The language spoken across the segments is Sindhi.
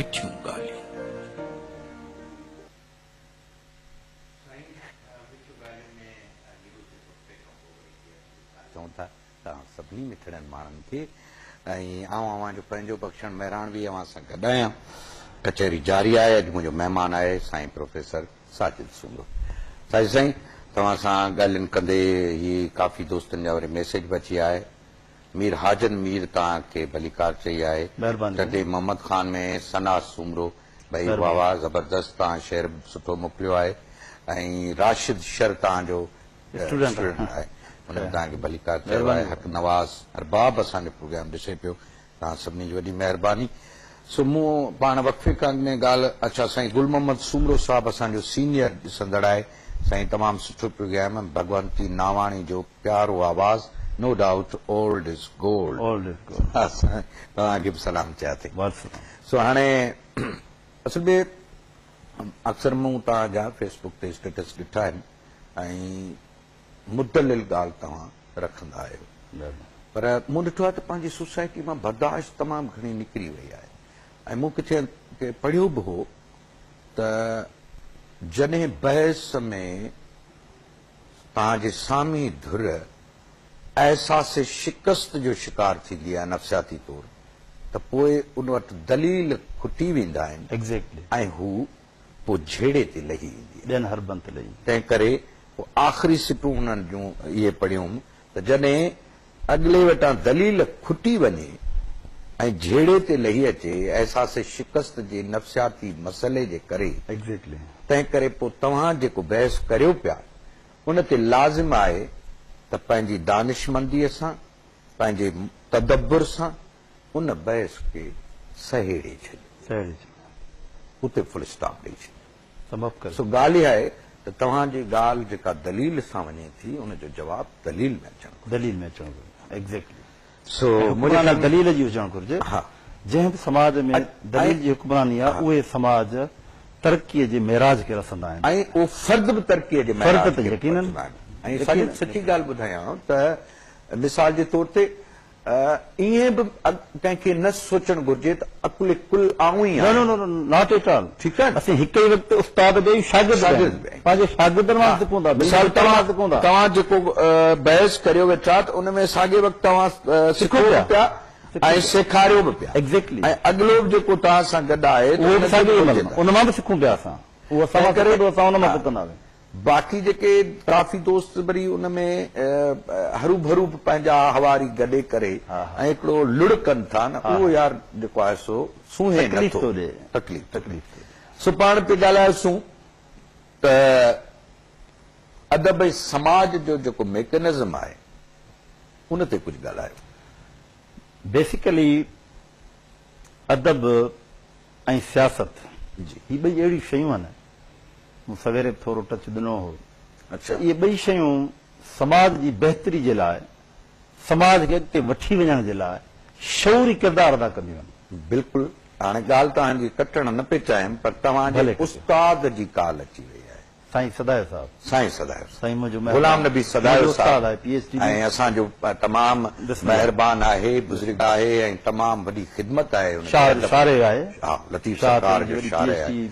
مٺيون ڳالهيون. چئون ٿا ته آئون سڀني مٺڙن ماڻهن کي ۽ آئون اوهان جو پنهنجو بخشڻ مهراڻوي اوهان سان گڏ آهيان. ڪچهري جاري آهي، اڄ منهنجو مهمان آهي سائين پروفيسر ساجد سومرو. ساجد سائين توهان سان ڳالهين ڪندي هي ڪافي دوستن جا وري ميسيج به اچي ويا آهي. مير حاجن مير تان کي ڀليڪار چئي آهي. مهرباني سائين. ٽنڊي محمد خان ۾ ثنا سومرو ڀئي واھ مهرباني. واھ زبردست تان شعر به سٺو موڪليو آهي ۽ راشد شر تان جو اسٽوڊنٽ آهي. اسٽوڊنٽ آهي ان به تان کي ڀليڪار چيو آهي مهرباني. حق نواز ارباب اسان جو پروگرام ڏسي پيو تان سڀني جي وڏي مهرباني. سو مون پاڻ وقفي کان اڳ ۾ ڳالهه اڇا سائين گل محمد سومرو صاحب اسان جو سينيئر ڏسندڙ آهي سائين تمام سٺو پيو ڳايم ڀڳونتي ناواڻي جو پيارو آواز no doubt old is gold اسان توهان کي به سلام چيا ٿي سو هاڻي اصل ۾ اڪثر مون توهان جا فيس بڪ تي اسٽيٽس ڏٺا آهن ۽ مدلل ڳالهه توهان رکندا آهيو پر مون ڏٺو آهي ته پنهنجي سوسائٽي مان برداشت تمام گهڻي نڪري وئي آهي ۽ مون ڪٿي پڙهيو به هو ته جڏهن بحث ۾ توهان جي سامي ڌر احساس شڪست جو شڪار ٿيندي آهي نفسياتي طور ته پوء ان وٽ دليل کٽي ويندا آهن ۽ هو پوء جهيڙي تي لهي ايندي آهي. ٻين حربن تي لهي ايندي آهي. تنهن ڪري پوء آخري سٽون انهن جون اهي پڙهيوم ته جڏهن اڳلي وٽان دليل کٽي وڃي ۽ جهيڙي تي لهي اچي احساس شڪست جي نفسياتي مسئلي جي ڪري Exactly. تنهن ڪري پوء توهان جيڪو بحث ڪريو پيا ان تي لازم آهي ته پنهنجي دانشمنديء سان، پنهنجي تدبر سان ان بحث کي سهيڙي ڇڏيو. سهيڙي ڇڏيو. اتي فل اسٽاپ ڏئي ڇڏيو. سمپ ڪري. سو ڳالهه اها آهي ته توهان جي ڳالهه جيڪا دليل سان وڃي ٿي ان جو جواب دليل ۾ اچڻ گهرجي. دليل ۾ اچڻ گهرجي. ايگزيڪٽلي. سو منهنجي خيال ۾ دليل جي هجڻ گهرجي. ها. جنهن به سماج ۾ دليل جي حڪمراني آهي اهي سماج ترقي جي معراج کي رسندا آهن. ۽ اهو فرد به ترقي جي معراج کي پهچندا آهن. ۽ ساجد سچي ڳالهه ٻڌايانء ته مثال جي طور تي. ائين به ڪنهن کي نه سوچڻ گهرجي ته عقل ڪل آئون ئي آهيان. نه نه نه ناٽ ايٽ آل. ٺيڪ آهي نه. اسين هڪ ئي وقت استاد به آهيون شاگرد به آهيون. پنهنجي شاگردن وانگر سکون ٿا. مثال طور توهان جيڪو بحث ڪريو ويٺا ته ان ۾ ساڳئي وقت توهان سکو به پيا ۽ سيکاريو به پيا. ايگزيڪٽلي. ۽ اڳلو به جيڪو توهان سان گڏ آهي ته ان کي به سکجي ٿو. ان مان به سکون پيا اسان. هو اسان مان سکي ٿو اسان ان مان سکنداسين. باقي جيڪي ڪافي دوست وري ان ۾ هروڀرو به پنهنجا هواري گڏي ڪري ۽ هڪڙو لڙ ڪن ٿا نه اهو يار جيڪو آهي سو سونهين نه ٿو تڪليف ٿو ڏي. سو پاڻ پي ڳالهايوسون ته ادب ۽ سماج جو جيڪو ميڪنزم آهي ان تي ڪجهه ڳالهايو. بيسيڪلي. ادب ۽ سياست جي هي ٻئي اهڙيون شيون آهن مون سويري به ٿورو ٽچ ڏنو هو ته اهي ٻئي شيون سماج جي بهتري جي لاء سماج کي اڳتي وٺي وڃڻ جي لاء شعوري ڪردار ادا ڪنديون آهن. بلڪل هاڻي ڳالهه توهان جي ڪٽڻ نه پئي چاهيم پر توهان جي استاد جي ڪال اچي وئي آهي. سائين سدايو صاحب. سائين سدايو صاحب. سائين منهنجو مهربان. غلام نبي سدايو صاحب ۽ اسان جو تمام مهربان آهي بزرگ آهي ۽ تمام وڏي خدمت آهي ان جي ادب شارع آهي ها لطيف سرڪار جو شارع آهي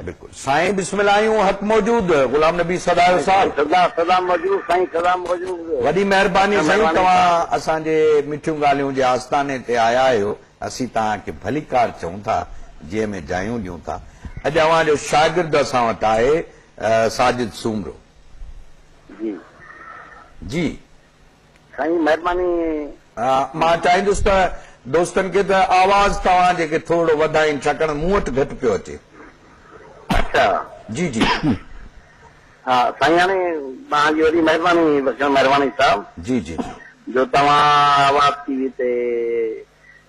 بلڪل سائين بسم الله آهيون حق موجود غلام نبي سدايو صاحب سدا سدا موجود سائين سدا موجود وڏي مهرباني سائين توهان اسان جي مٺيون ڳالهيون جي آستاني تي آيا آهيو اسين توهان کي ڀليڪار چئون ٿا، جنهن ۾ جايون ڏيون ٿا. اڄ اوهان جو شاگرد اسان وٽ آهي، ساجد سومرو. جي. جي. سائين مهرباني. مان چاهيندس ته دوستن کي ته آواز توهان جي کي ٿورڙو وڌائين ڇاڪاڻ مون وٽ گهٽ پيو اچي. اچا. جي جي. ها سائين هاڻي توهان جي وڏي مهرباني بخشڻ مهرباني صاحب جي جي جي. جو توهان آواز ٽي وي تي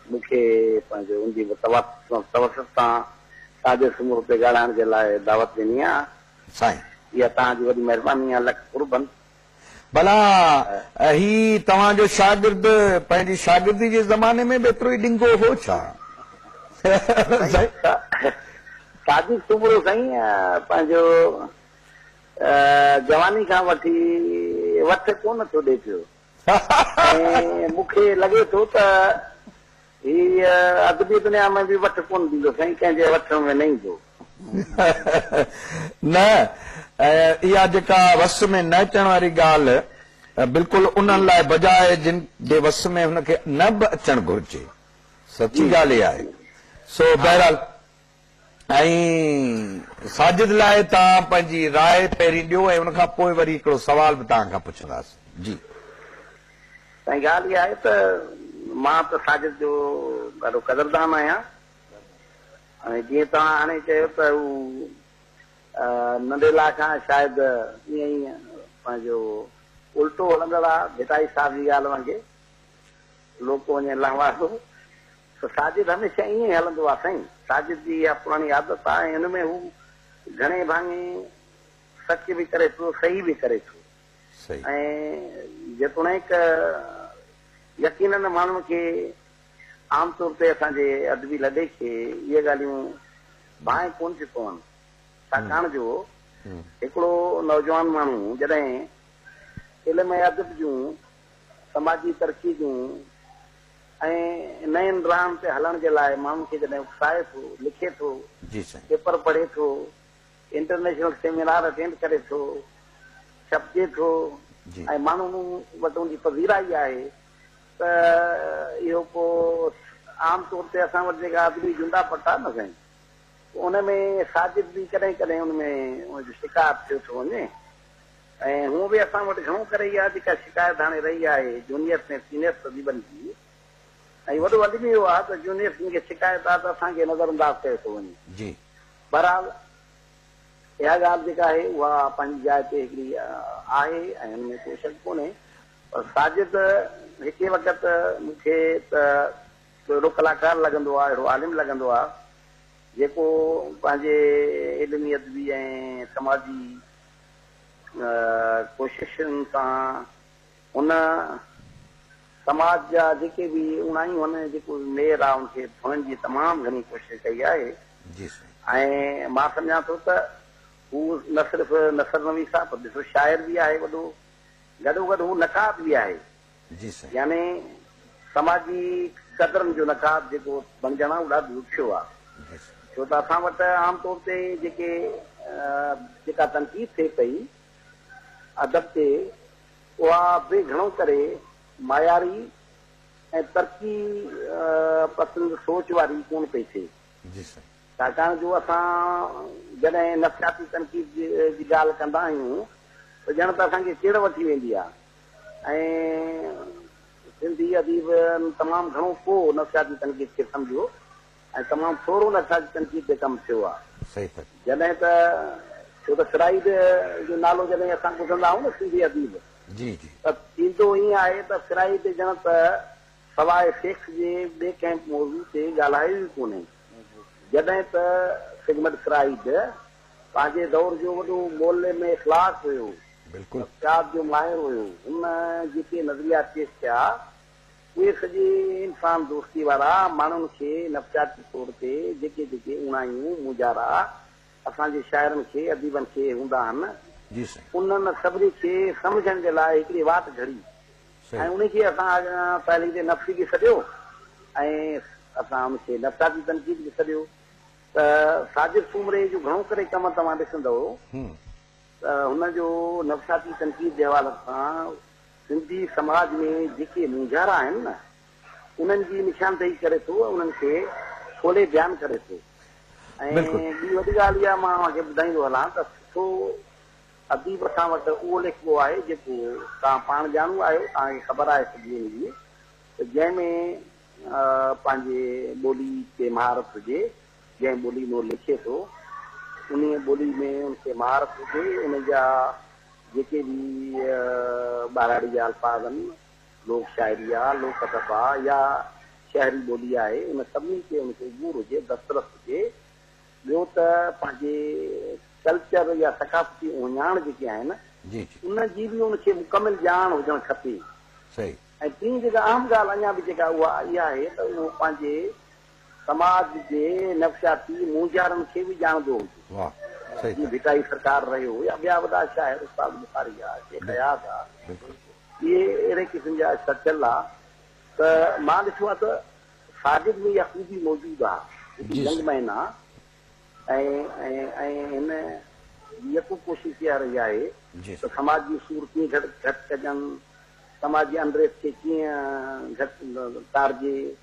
مون کي پنهنجو ان جي توسط سان ساڄي سمور تي ڳالهائڻ جي لاء دعوت ڏني آ سائين. اها توهان جي وڏي مهرباني آ لک قربن ڀلا هي توهان جو شاگرد پنهنجي شاگردي جي زماني ۾ به ايترو ئي ڏنگو هو ڇا؟ صادق سومرو سائين پنهنجو جواني کان وٺي وٿ ڪونه ٿو ڏي پيو ۽ مون کي لڳي ٿو ته هي ادبي دنيا ۾ به وٺ ڪونه ڏيندو سائين ڪنهن جي وٺ ۾ نه ايندو. نه ۽ اها جيڪا وس ۾ نه اچڻ واري ڳالهه بلڪل انهن لاء بجاء جن جي وس ۾ هن کي نه به اچڻ گهرجي سچي ڳالهه اها آهي سو بهرحال ۽ ساجد لاء توهان پنهنجي راء پهرين ڏيو ۽ ان کان پوء وري هڪڙو سوال به توهان کان پڇنداس جي. سائين ڳالهه اها آهي ته مان ته ساجد جو ڏاڍو قدردان آهيان ۽ جيئن توهان هاڻي چيو ته هو ننڍي لا کان شايد ائين ئي پنهنجو الٽو هلندڙ آ ڀٽائي صاحب جي ڳالهه وانگي لوڪ وڃي لهوارو ته ساجد هميشه ائين ئي هلندو آ سائين. ساجد جي اها پراڻي عادت آ ۽ ان ۾ هو گهڻي ڀاڱي سچ به ڪري ٿو صحيح به ڪري ٿو ۽ جيتوڻيڪ يقينن ماڻهن کي عام طور تي اسان جي ادبي لڏي کي اهي ڳالهيون ڀانء ڪونه ٿيون پون ڇاڪاڻ جو هڪڙو نوجوان ماڻهو جڏهن علم ۽ ادب جون سماجي ترقي جون ۽ نين راهن تي هلڻ جي لاء ماڻهن کي جڏهن اڪسائي ٿو، لکي ٿو، پيپر پڙهي ٿو، انٽرنيشنل سيمينار اٽينڊ ڪري ٿو، ڇپجي ٿو ۽ ماڻهن وٽ ان جي پذيرائي آهي ته اهو ڪو عام طور تي اسان وٽ جيڪا ادبي جنڊا پٽا نه سائين ان ۾ ساجد به ڪڏهن ڪڏهن ان ۾ ان جو شڪار ٿيو ٿو وڃي. ۽ هونء به اسان وٽ گهڻو ڪري اها جيڪا شڪايت هاڻي رهي آهي جونيئرس ۽ سينيئرس طبيبن جي ۽ وڏو الميو آهي ته جونيئرس جن کي شڪايت آهي ته اسان کي نظر انداز ڪيو ٿو وڃي. بهرحال اها ڳالهه جيڪا آهي اها پنهنجي جاء تي هڪڙي آهي ۽ ان ۾ ڪو شڪ ڪونهي پر ساجد هڪي وقت مون کي ته ڪو اهڙو ڪلاڪار لڳندو آهي اهڙو عالم لڳندو آهي جيڪو پنهنجي علمي ادبي ۽ سماجي ڪوششن سان هن سماج جا جيڪي به اڻائي هن جيڪو مير آ ان کي ڌوئڻ جي تمام گهڻي ڪوشش ڪئي آهي ۽ مان سمجهان ٿو ته هو نه صرف نثر نويس آ پر ڏسو شاعر به آهي وڏو گڏو گڏ هو نقاد به آهي. جي سائين. يعني سماجي قدرن جو نقاد جيڪو بڻجڻ آ اهو ڏاڍو ڏکيو آ ڇو ته اسان وٽ عام طور تي جيڪي جيڪا تنقيد ٿئي پئي ادب تي اها به گهڻو ڪري معياري ۽ ترقي پسند سوچ واري ڪون پئي ٿئي جي سائين. ڇاڪاڻ جو اسان جڏهن نفسياتي تنقيد جي ڳالهه ڪندا آهيون ته ڄڻ ته اسان کي چڙ وٺي ويندي آ ۽ سنڌي اديبن تمام گهڻو ڪو نفسياتي تنقيد کي سمجهيو ۽ تمام ٿورو نفسياتي تنقيد تي ڪم ٿيو آهي. جڏهن ته ڇو ته فرائيڊ جو نالو جڏهن اسان ٻڌندا آهيون نه سنڌي اديب ته ٿيندو ائين آهي ته فرائيڊ ڄڻ ته سواء سيڪس جي ٻئي ڪنهن موضوع تي ڳالهايو ئي ڪونهي. جڏهن ته سگمنڊ فرائيڊ پنهنجي دور جو وڏو معلم اخلاق هيو. بلڪل. نفسيات جو ماهر هيو. هن جيڪي نظريات پيش ڪيا اهي سڄي انسان دوستي وارا ماڻهن کي نفسياتي طور تي جيڪي جيڪي اوڻايون مونجهارا اسان جي شاعرن کي اديبن کي هوندا هن جي سائين. انهن سڀني کي سمجهڻ جي لاء هڪڙي واٽ گهڙي ۽ انهي کي اسان اڳيان تحليل نفسي به سڏيو ۽ اسان ان کي نفسياتي تنقيد به سڏيو ته ساجد سومري جو گهڻو ڪري ڪم توهان ڏسندؤ هن جو نفسياتي تنقيد جي حوالي سان سنڌي سماج ۾ جيڪي مونجهارا آهن نه انهن جي نشاندهي ڪري ٿو ۽ انهن کي کولي بيان ڪري ٿو ۽ ٻي وڏي ڳالهه اها مان اوهان کي ٻڌائيندو هلان ته سٺو اديب اسان وٽ اهو ليکبو آهي جيڪو توهان پاڻ ڄاڻو آهيو توهان کي خبر آهي سڄي ان جي ته جنهن ۾ پنهنجي ٻولي تي مهارت هجي جنهن ٻولي ۾ هو لکي ٿو، انهيء ٻولي ۾ ان کي مهارت هجي. ان جا جيڪي به ٻهراڙيء جا الفاظ آهن، لوڪ شاعري آ، لوڪ ادب آ يا شهري ٻولي آهي، ان سڀني تي ان کي عبور هجي، دسترس هجي. ٻيو ته پنهنجي ڪلچر يا ثقافتي اهڃاڻ جيڪي آهن، ان جي به ان کي مڪمل ڄاڻ هجڻ کپي. ۽ ٽين جيڪا اهم ڳالهه اڃا به جيڪا اها اها آهي ته اهو پنهنجي سماج جي نفسياتي مونجهارن کي به ڄاڻندو هجي. جيئن ڀٽائي سرڪار رهيو يا ٻيا وڏا شاعر استاد بخاري آ، شيخ اياز آ، اهي اهڙي قسم جا سچل آ ته مان ڏٺو آ ته ساجد ۾ اها خوبي موجود آ جيڪي ينگ مين آ ۽ هن يڪو ڪوشش اها رهي آهي ته سماج جون سور ڪيئن گهٽ ڪجن، سماج جي انريت کي ڪيئن گهٽ ٽارجي.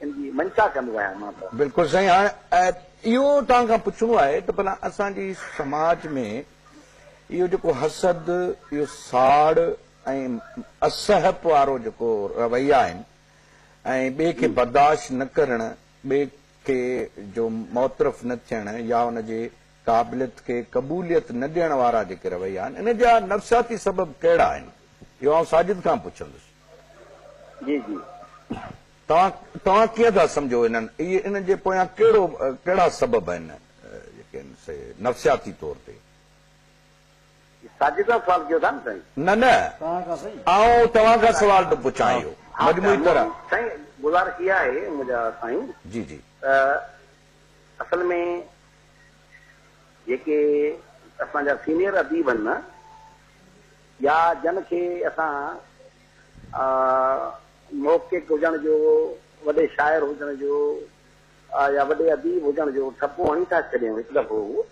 ان جي منشا ڪندو آهيان مان ته. بلڪل سائين هاڻ اهو توهان کان پڇڻو آهي ته ڀلا اسان جي سماج ۾ اهو جيڪو حسد اهو ساڙ ۽ اسهپ وارو جيڪو رويا آهن ۽ ٻئي کي برداشت نه ڪرڻ ٻئي کي جو معترف نه ٿيڻ يا ان جي قابليت کي قبوليت نه ڏيڻ وارا جيڪي رويا آهن ان جا نفسياتي سبب ڪهڙا آهن اهو آئون ساجد کان پڇندس. جي جي توهان توهان ڪيئن ٿا سمجهو انهن اهي ان جي پويان ڪهڙو ڪهڙا سبب آهن جيڪي آهن سي نفسياتي طور تي. ساجد صاحب سوال ڪيو ٿا نه سائين. نه نه آئون توهان کان سوال ٿو پڇان اهو مجموعي طرح. سائين گذارش اها آهي منهنجا سائين جي جي. ته اصل ۾ جيڪي اسان جا سينيئر اديب آهن نه يا جن کي اسان محقق هجڻ جو، وڏي شاعر هجڻ جو يا وڏي اديب هجڻ جو ٺپو هڻي ٿا ڇڏيون هڪ دفعو اهو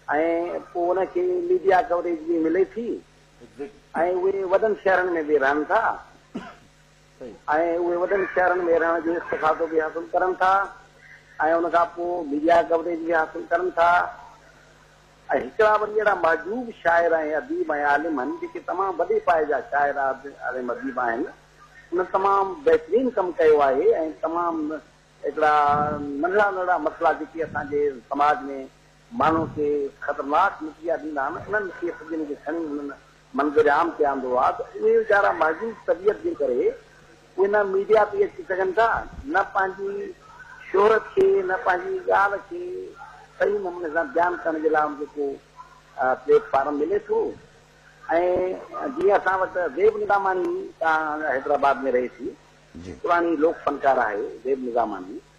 ۽ پوء ان کي ميڊيا ڪوريج به ملي ٿي ۽ اهي وڏن شهرن ۾ به رهن ٿا ۽ اهي وڏن شهرن ۾ رهڻ جو استفادو به حاصل ڪرن ٿا ۽ ان کان پوء ميڊيا ڪوريج به حاصل ڪرن ٿا ۽ هڪڙا وري اهڙا محجوب شاعر ۽ اديب ۽ عالم هن جيڪي تمام وڏي پايي جا شاعر عالم اديب آهن انهن تمام بهترين ڪم ڪيو آهي ۽ تمام هڪڙا ننڍڙا ننڍڙا مسئلا جيڪي اسان جي سماج ۾ ماڻهن کي خطرناڪ نتيجا ڏيندا آهن انهن کي سڄن کي کڻي انهن منظر عام تي آندو آ ته اهي ويچارا مهذوب طبيعت جي ڪري اهي نه ميڊيا تي اچي سگهن ٿا نه پنهنجي شهرت کي نه پنهنجي ڳالهه کي صحيح نموني سان بيان ڪرڻ جي لاء ان کي ڪو پليٽ فارم ملي ٿو ۽ جيئن اسان وٽ زيب نظاماڻي تان حيدرآباد ۾ رهي ٿي پراڻي لوڪ فنڪار آهي زيب نظاماڻي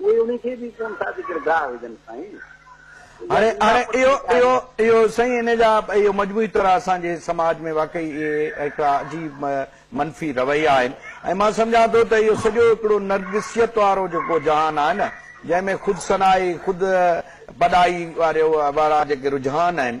اهي انهي کي به ڪون ٿا جيڪر گاهه وجهن سائين. هاڻي اهو اهو اهو سائين ان جا اهو مجموعي طرح اسان جي سماج ۾ واقعي اهي هڪڙا عجيب منفي رويا آهن ۽ مان سمجهان ٿو ته اهو سڄو هڪڙو نرگسيت وارو جيڪو جهان آهي نه جنهن ۾ خود ثنائي خود بڏائي واريو وارا جيڪي رجحان آهن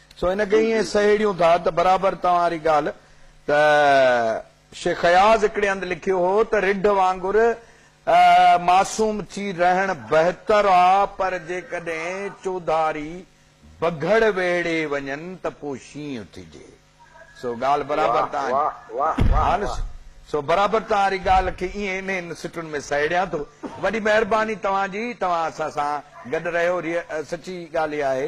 سو ان کي ائين سهيڙيون ٿا ته برابر توهان واري ڳالهه ته شيخ اياز هڪڙي هنڌ لکيو هو ته رڍ وانگر معصوم ٿي رهڻ بهتر آ پر جيڪڏهن چوڌاري بگهڙ ويڙهي وڃن ته پو شينهن اٿجي سو ڳالهه برابر توهان جي ها نه سو برابر توهان واري ڳالهه کي ائين انهن سٽن ۾ سهيڙيان ٿو وڏي مهرباني توهان جي توهان اسان سان گڏ رهيو سچي ڳالهه اها آهي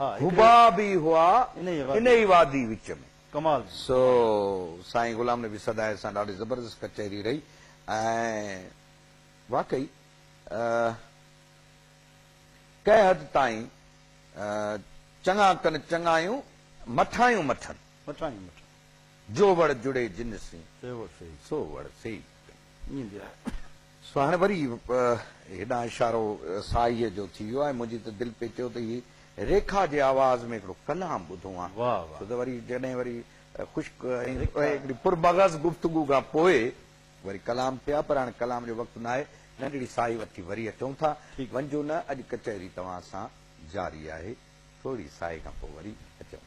حباب ئي هئا انهيء وادي وچ ۾. سو سائين غلام نبي سدائي سان ڏاڍي زبردست ڪچهري رهي ۽ واقعي ڪنهن حد تائين چڱا ڪن چڱايون مٺايون مٺن، جو وڙ جڙي جن سين، سو وڙ سيئي ڪن. ايندي آهي. سو هاڻي وري هيڏانهن اشارو سائيء جو ٿي ويو ۽ منهنجي ته دل پئي چيو ته هي ريکا جي آواز ۾ هڪڙو ڪلام ٻڌو هان. ڇو ته وري جڏهن وري خشڪ ۽ هڪڙي پرمغز گفتگو کان پوء وري ڪلام ٿئي ها پر هاڻي ڪلام جو وقت ناهي. ننڍڙي ساهي وٺي وري اچون ٿا. ونجو نه اڄ ڪچهري توهان سان جاري آهي. ٿورڙي ساهي کان پوء وري اچون ٿا.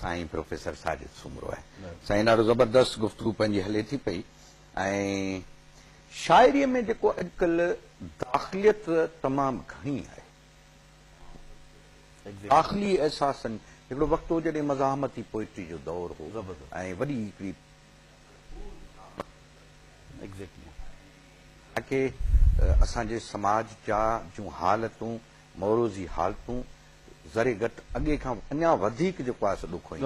سائين پروفيسر ساجد سومرو آهي. سائين ڏاڍو زبردست گفتگو پنهنجي هلي ٿي پئي ۽ شاعري ۾ جيڪو اڄڪلهه داخليت تمام گهڻي آهي داخلي احساسن هڪڙو وقت هو جڏهن مزاحمتي پوئٽري جو دور هو ۽ وڏي هڪڙي تاڪي اسان جي سماج جا جون حالتون موروضي حالتون ذري گهٽ اڳي کان اڃا وڌيڪ جيڪو آهي سو ڏکوئي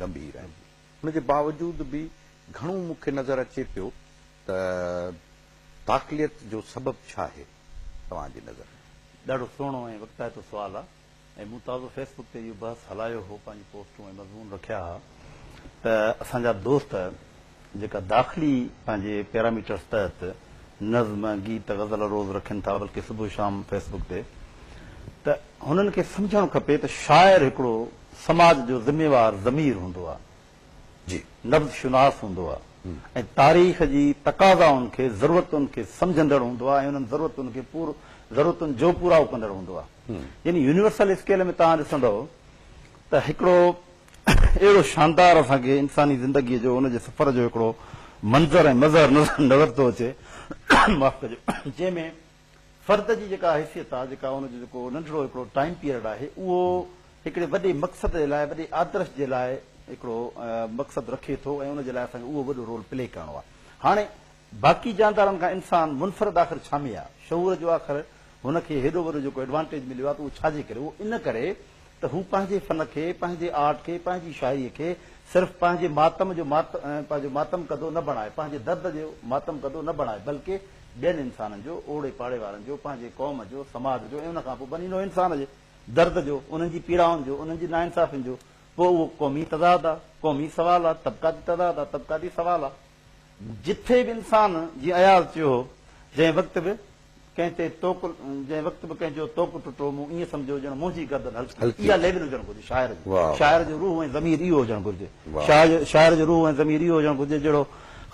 گنڀير آهي ان جي باوجود به گهڻو مون کي نظر اچي پيو ته داخليت جو سبب ڇا آهي توهان جي نظر ۾؟ ڏاڍو سهڻو ۽ وقتائتو سوال آ ۽ مون تازو فيس بڪ تي اهو بحث هلايو هو پنهنجي پوسٽون ۽ مضمون رکيا ها ته اسان جا دوست جيڪا داخلي پنهنجي پيراميٽرز تحت نظم، گيت، غزل روز رکن ٿا بلڪه صبح شام فيس بڪ تي ته هنن کي سمجهڻ کپي ته شاعر هڪڙو سماج جو ذميوار ضمير هوندو آ جي نبض شناس هوندو آ ۽ تاريخ جي تقاضائن کي ضرورتن کي سمجهندڙ هوندو آ ۽ انهن ضرورتن کي پور ضرورتن جوپورائو ڪندڙ هوندو آ يعني يونيورسل اسڪيل ۾ توهان ڏسندؤ ته هڪڙو اهڙو شاندار اسان کي انساني زندگيء جو ان جي سفر جو هڪڙو منظر ۽ مظهر نظر ٿو اچي معاف ڪجو جنهن ۾ فرد جي جيڪا حيثيت آهي جيڪا ان جو جيڪو ننڍڙو هڪڙو ٽائيم پيريڊ آهي اهو هڪڙي وڏي مقصد جي لاء وڏي آدرش جي لاء هڪڙو مقصد رکي ٿو ۽ ان جي لاء اسان کي اهو وڏو رول پلي ڪرڻو آهي هاڻي باقي جاندارن کان انسان منفرد آخر ڇا ۾ آ؟ شعور جو آخر هن کي هيڏو وڏو جيڪو ايڊوانٽيج مليو آ ته اهو ڇا جي ڪري؟ اهو ان ڪري ته هو پنهنجي فن کي، پنهنجي آرٽ کي، پنهنجي شاعريء کي صرف پنهنجي ماتم جو پنهنجو ماتم ڪندو نه بڻائي، پنهنجي درد جو ماتم ڪندو نه بڻائي بلڪ ٻين انسانن جو، اوڙي پاڙي وارن جو، پنهنجي قوم جو، سماج جو ۽ ان کان پوء بني نوع انسان جي درد جو، انهن جي پيڙائن جو، انهن جي ناانصافين جو. پوء اهو قومي تضاد آ، قومي سوال آ، طبقاتي تضاد آ، طبقاتي سوال آ. جٿي به انسان، جيئن اياز چيو هو، جنهن وقت به ڪنهن تي توڪ، جنهن وقت به ڪنهن جو توڪ ٽٽو، مون ائين سمجهيو ڄڻ منهنجي گردن هلڪي ٿي. اها ليول هجڻ گهرجي شاعر جي. شاعر جو روح ۽ ضمير اهو هجڻ گهرجي. شاعر جو روح ۽ ضمير اهو هجڻ گهرجي جهڙو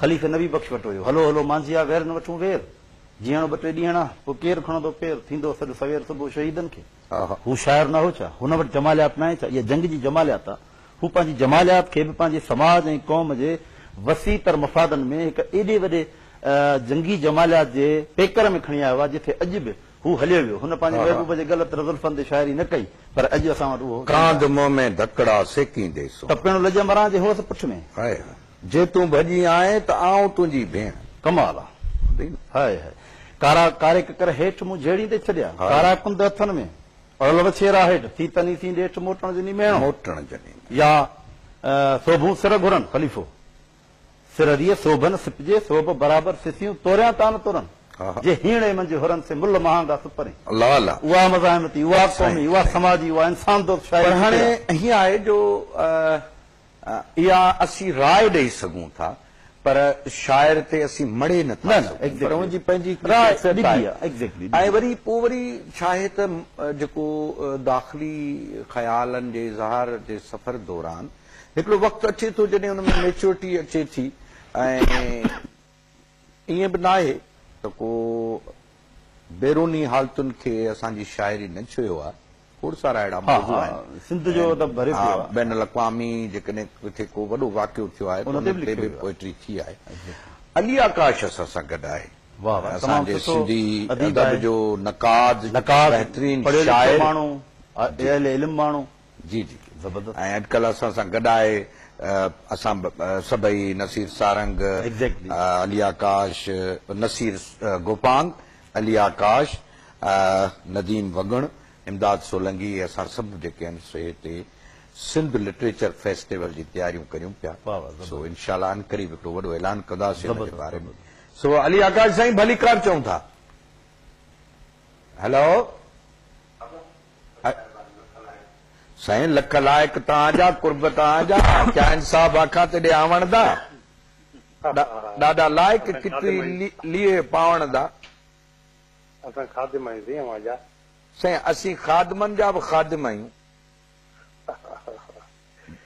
خليفي نبي بخش وٽ هيو. هلو هلو مانجهيا وير نه وٺون وير، جيئڻو ٻه ٽي ڏينهڙا، پوء ڪير کڻندو پير، ٿيندو سڏ سوير صبح شهيدن کي. هو شاعر نه هو ڇا؟ هن وٽ جماليات ناهي ڇا؟ اها جنگ جي جماليات آ. هو پنهنجي جماليات کي به پنهنجي سماج ۽ قوم جي وسيع تر مفادن ۾ هڪ ايڏي وڏي جنگي جماليات جي پيڪر ۾ کڻي آيو آهي، جتي اڄ به هو هليو ويو. هن پنهنجي محبوب جي ڳل تر زلفن تي شاعري نه ڪئي، پر اڄ اسان وٽ اهو چنڊ آهي. ڪانڌ منهن ۾ ڌڪڙا سيڪيندي سون. ته پڻ لڄ مران جي هوس پٺ ۾. هاء هاء جي تون ڀڄي آئين ته آئون تنهنجي ڀيڻ. ڪمال آ. هاء هاء. ڪارا ڪاري ڪڪر هيٺ مون جهيڙيندي ڇڏيا. ڪارا ڪنڌ هٿن ۾. پڙهيل وڇي ايرا هيڊ، ٿي تني سين ڏيٺ موٽڻ جني ميڻ. موٽڻ جني ميڻ. يا سوڀون سر گهرن، خليفو. سر ريء سوڀن سپجي، سوڀ برابر سسيون توريان تان ترن. جي هيڻي منجهه هرن سي مل مهانگا سپرين. الله الله. اها مزاحمتي، اها قومي، اها سماجي، اها انسان دوست شاعري ڪٿي آ؟ پڙهاڻي ائين آهي جو اها اسين راء ڏئي سگهون ٿا پر شاعر تي اسين مڙهي نه ٿا سگهون پر ان جي پنهنجي هڪ خاصيت آهي ۽ وري پوء وري ڇاهي ته جيڪو داخلي خيالن جي اظهار جي سفر دوران هڪڙو وقت اچي ٿو جڏهن ان ۾ ميچورٽي اچي ٿي ۽ ائين به ناهي ته ڪو بيروني حالتن کي اسان جي شاعري نه ڇهيو آهي، کوڙ سارا اهڙا موضوع آهن، بين الاقوامي جيڪڏهن ڪٿي ڪو وڏو واقعو ٿيو آهي ته ان تي به پوئٽري ٿي آهي. علي آڪاش اسان سان گڏ آهي، اسان جي سنڌي ادب جو نقاد، بهترين شاعر، اهل علم ماڻهو. جي جي زبردست ۽ اڄڪلهه اسان سان گڏ آهي اسان سڀئي نصير سارنگ Exactly. علي آڪاش نصير گوپانگ علي آڪاش نديم وڳڻ امداد سولنگي اسان سڀ جيڪي آهن سي هتي سنڌ لٽريچر فيسٽيول جي تياريون ڪريون پيا واھ واھ زبردست سو انشاء الله عنقريب هڪڙو وڏو اعلان ڪنداسي ان جي باري ۾ زبردست سو علي آڪاش سائين ڀليڪار چئون ٿا هلو. سائين لک لائق تان جا قرب تان جا ڪيا انصاف آکان تيڏي آوڻ دا ڏاڏا لائق ڪتي ليئي پاوڻ دا. اسان خادم آهيون سائين اوهان جا. سائين اسين خادمن جا به خادم آهيون.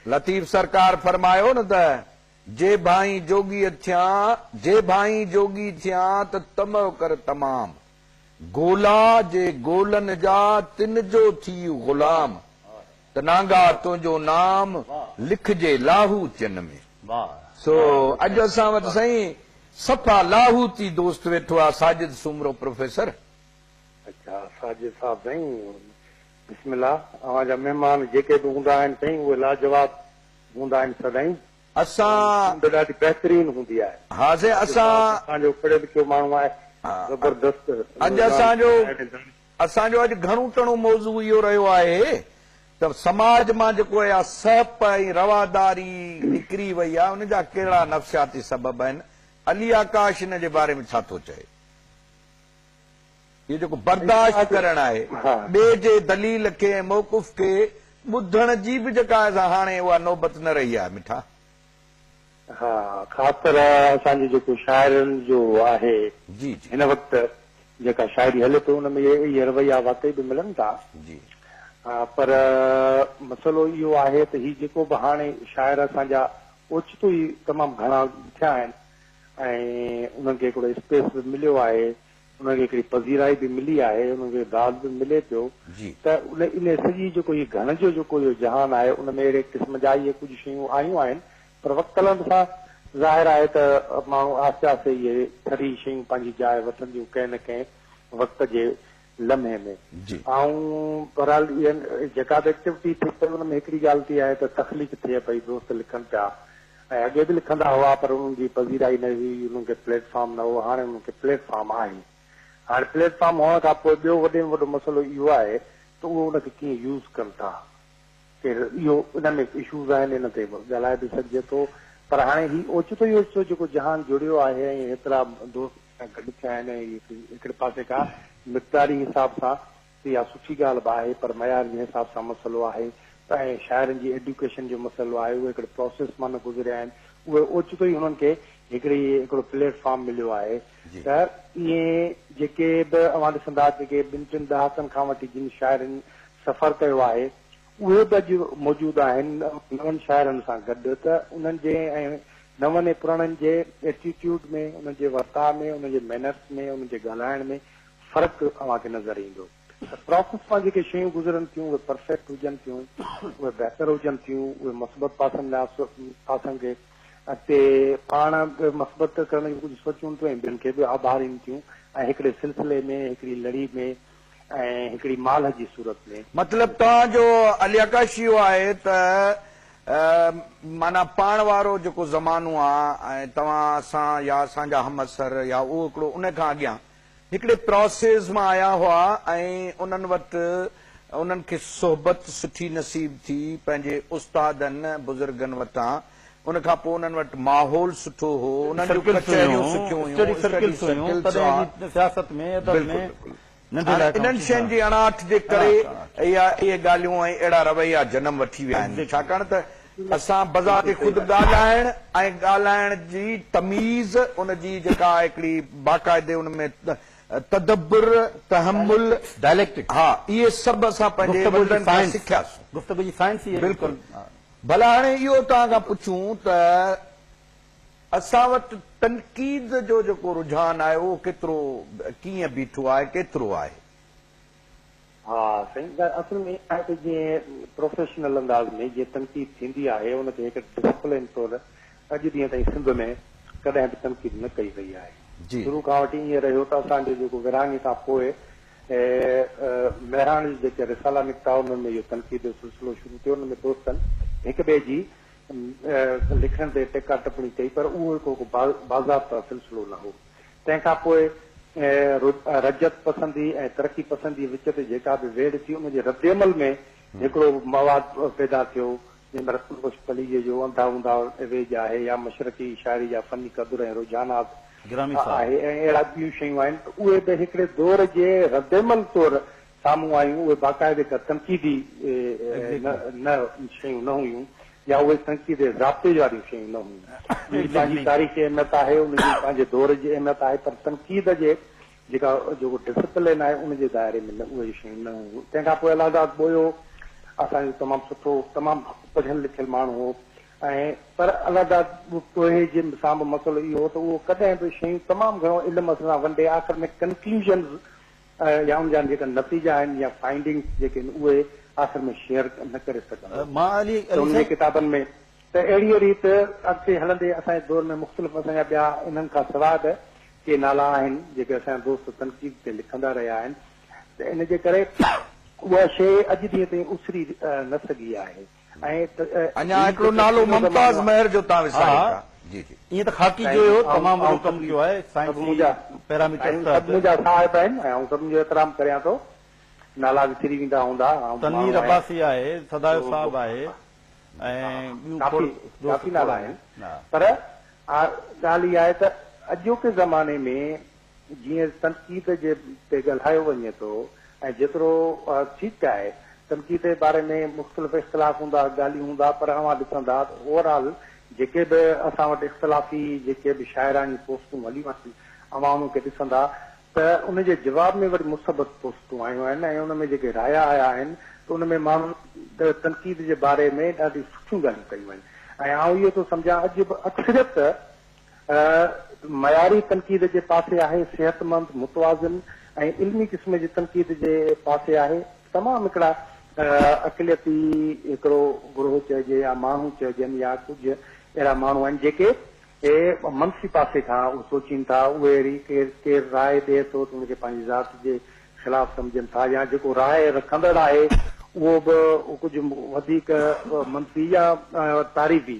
لطيف سرڪار فرمايو نه ته جي ڀائين جوڳي ٿيان جي ڀائين جوڳي ٿيان ته طمع ڪر تمام. گولا جي گولن جا تن جو ٿي غلام ته نانگا تنهنجو نام لکجي لاهوتين ۾. سو اڄ اسان وٽ سائين صفا لاهوتي دوست ويٺو آ ساجد سومرو پروفيسر. اچا ساجد صاحب سائين بسم الله اوهان جا مهمان جيڪي به هوندا آهن سائين اهي لاجواب هوندا آهن سدائين. اسان ٽيم ته ڏاڍي بهترين هوندي آهي. ها سائين اسان. اسان جو پڙهيو لکيو ماڻهو آهي زبردست اڄ اسان جو اسان جو اڄ گهڻو تڻو موضوع اهو رهيو آهي ته سماج مان جيڪو اها سهپ ۽ رواداري نڪري وئي آهي ان جا ڪهڙا نفسياتي سبب آهن علي آڪاش ان جي باري ۾ ڇا ٿو چئي. اهو جيڪو برداشت ڪرڻ آهي، ٻئي جي دليل کي ۽ موقف کي ٻڌڻ جي به جيڪا سا هاڻي اها نوبت نه رهي آهي مٺا. ها خاص طرح اسان جي جيڪو شاعرن جو آهي هن وقت جيڪا شاعري هلي پئي ان ۾ اهي رويا واقعي به ملن ٿا پر مسئلو اهو آهي ته هي جيڪو به هاڻي شاعر اسان جا اوچتو ئي تمام گهڻا ٿيا آهن ۽ انهن کي هڪڙو اسپيس به مليو آهي انهن کي هڪڙي پذيرائي به ملي آهي، انهن کي داد به ملي پيو ته ان سڄي جيڪو هي گهڻ جو جيڪو اهو جهان آهي ان ۾ اهڙي قسم جا اهي ڪجهه شيون آيون آهن پر وقت هلڻ سان ظاهر آهي ته ماڻهو آهستي آهستي اهي سري شيون پنهنجي جاء وٺنديون ڪنهن نه ڪنهن وقت جي لمحي ۾ آئون بهرحال اها جيڪا به ايڪٽيوٽي ٿئي پئي ان ۾ هڪڙي ڳالهه ٿي آهي ته تخليق ٿئي پئي دوست لکن پيا ۽ اڳي به لکندا هئا پر انهن جي پذيرائي نه هئي، انهن کي پليٽ فارم نه هو، هاڻي انهن کي پليٽ فارم آهي. هاڻي پليٽ فارم هئڻ کان پوء ٻيو وڏي ۾ وڏو مسئلو اهو آهي ته اهو ان کي ڪيئن يوز ڪن ٿا. خير اهو ان ۾ اشوز آهن ان تي به ڳالهائي به سگهجي ٿو پر هاڻي هي اوچتو ئي اوچتو جيڪو جهان جڙيو آهي ۽ هيترا دوست گڏ ٿيا آهن ۽ هڪڙي پاسي کان مقداري حساب سان اها سٺي ڳالهه به آهي پر معيار جنهن حساب سان مسئلو آهي ته ۽ شاعرن جي ايڊيوڪيشن جو مسئلو آهي اهي هڪڙي پراسيس مان نه گذريا آهن اهي اوچتو ئي هنن کي هڪڙي هڪڙو پليٽ فارم مليو آهي ته ائين جيڪي به اوهان ڏسندا جيڪي ٻن ٽن ڏهاڪن کان وٺي جن شاعرن سفر ڪيو آهي اهي به اڄ موجود آهن نون شاعرن سان گڏ ته انهن جي ۽ نون ۽ پراڻن جي ايٽيٽيوڊ ۾ انهن جي ورتاء ۾ انهن جي مينرس ۾ انهن جي ڳالهائڻ ۾ فرق اوهان کي نظر ايندو ته پراسيس مان جيڪي شيون گذرن ٿيون اهي پرفيڪٽ هجن ٿيون اهي بهتر هجن ٿيون اهي مثبت پاسن ۾ پاسن کي اڳتي پاڻ به مثبت ڪرڻ جي ڪجهه سوچون ٿيون ۽ ٻين کي به آڀارين ٿيون ۽ هڪڙي سلسلي ۾ هڪڙي لڙي ۾ ۽ هڪڙي مالهه جي صورت ۾. مطلب توهان جو علياڪاشي اهو آهي ته معنيٰ پاڻ وارو جيڪو زمانو آهي ۽ توهان اسان يا اسان جا همعصر يا اهو هڪڙو ان کان اڳيان هڪڙي پراسيز مان آيا هئا ۽ انهن وٽ انهن کي صحبت سٺي نصيب ٿي پنهنجي استادن بزرگن وٽان ان کان پوء انهن وٽ ماحول سٺو هو انهن جون ڪچهريون سٺيون هيون اسٽڊي سرڪلز هيون تڏهن جي سياست ۾ ادب ۾ ننڍي لاء ڪم انهن شين جي اڻاٺ جي ڪري اهي ڳالهيون ۽ اهڙا رويا جنم وٺي ويا آهن ڇاڪاڻ ته اسان بذات خود ڳالهائڻ ۽ ڳالهائڻ جي تميز، ان جي جيڪا هڪڙي باقاعدي ان ۾ تدبر، تحمل، Dialectic، ها اهي سڀ اسان پنهنجي وڏڙن کان سکياسون. گفتگو جي سائنس ئي اهڙي. بلڪل. ڀلا هاڻي اهو توهان کان پڇون ته اسان وٽ تنقيد جو جيڪو رجحان آهي اهو ڪيترو ڪيئن بيٺو آهي، ڪيترو آهي؟ ها سائين ڳالهه اصل ۾ اها آهي ته جيئن پروفيشنل انداز ۾ جيئن تنقيد ٿيندي آهي ان کي هڪ ڊسپلين طور اڄ ڏينهن تائين سنڌ ۾ ڪڏهن به تنقيد نه ڪئي وئي آهي شروع کان وٺي ائين رهيو ته اسان جو جيڪو ورهاڱي کان پوء مهراڻ جي جيڪي رسالا نڪتا انهن ۾ اهو تنقيد جو سلسلو شروع ٿيو ان ۾ دوستن هڪ ٻئي جي لکڻ تي ٽيڪا ٽپڻي ڪئي پر اهو هڪ باضابطا سلسلو نه هو تنهن کان پوء رجعت پسندي ۽ ترقي پسندي وچ تي جيڪا به ويڙهه ٿي ان جي رد عمل ۾ هڪڙو مواد پيدا ٿيو جنهن ۾ رتن بخش پليجي جو انڌا انڌا ويڄ آهي يا مشرقي شاعري جا فني قدر ۽ رجحانات آهي ۽ اهڙا ٻيون شيون آهن ته اهي به هڪڙي دور جي رد عمل طور سامهون آيون، اهي باقاعدي ڪا تنقيدي شيون نه هيون يا اهي تنقيدي ضابطي واريون شيون نه هيون. ان جي پنهنجي تاريخي اهميت آهي، ان جي پنهنجي دور جي اهميت آهي پر تنقيد جي جيڪا جيڪو ڊسپلين آهي ان جي دائري ۾ اهي شيون نه هيون. تنهن کان پوء الهاداد ٻوهيو اسان جو تمام سٺو تمام پڙهيل لکيل ماڻهو هو ۽ پر الهاداد ٻوهي جي سان به مسئلو اهو هو ته اهو ڪڏهن به شيون تمام گهڻو علم اسان سان ونڊي آخر ۾ ڪنڪلوزنز يا ان جا جيڪا نتيجا آهن يا فائنڊنگس جيڪي آهن اهي آخر ۾ شيئر نه ڪري سگهندو ته انهن جي ڪتابن ۾ ته اهڙيء ريت اڳتي هلندي اسان جي دور ۾ مختلف اسان جا ٻيا انهن کان سواء به ڪي نالا آهن جيڪي اسان جا دوست تنقيد تي لکندا رهيا آهن ته ان جي ڪري اها شيء اڄ ڏينهن تائين اسري نه سگهي آهي. اڃا هڪڙو نالو ممتاز مهر جو تان وساريو ٿا جي جي. ائين ته خاڪي جو اهو تمام وڏو ڪم ٿيو آهي سائنسي پيراميٽرس تحت. سڀ منهنجا صاحب آهن ۽ آئون سڀن جو احترام ڪريان ٿو. نالا وسري ويندا هوندا. تنوير عباسي آهي، سدايو صاحب آهي ۽ ٻيون کوڙ دوست کول آهن پر ڳالهه اها آهي ته اڄوڪي زماني ۾ جيئن تنقيد جي تي ڳالهايو وڃي ٿو ۽ جيترو ٺيڪ آهي تنقيد جي باري ۾ مختلف اختلاف هوندا ڳالهيون هوندا پر اوهان ڏسندا ته اوور آل جيڪي به اسان وٽ اختلافي جيڪي به شاعراڻي پوسٽون هليون آهن اوهان انهن کي ڏسندا ته ان جي جواب ۾ وري مثبت پوسٽون آيون آهن ۽ ان ۾ جيڪي رايا آيا آهن ته ان ۾ ماڻهن تنقيد جي باري ۾ ڏاڍيون سٺيون ڳالهيون ڪيون آهن ۽ آئون اهو ٿو سمجهان اڄ به اڪثريت معياري تنقيد جي پاسي آهي، صحتمند، متوازن ۽ علمي قسم جي تنقيد جي پاسي آهي. تمام هڪڙا اقليتي هڪڙو گروهه چئجي يا ماڻهو چئجن يا ڪجهه اهڙا ماڻهو آهن جيڪي منفي پاسي کان سوچين ٿا، اهي اهڙي ڪير راء ڏئي ٿو ته ان کي پنهنجي ذات جي خلاف سمجهن ٿا يا جيڪو راء رکندڙ آهي اهو به ڪجهه وڌيڪ منفي يا تعريفي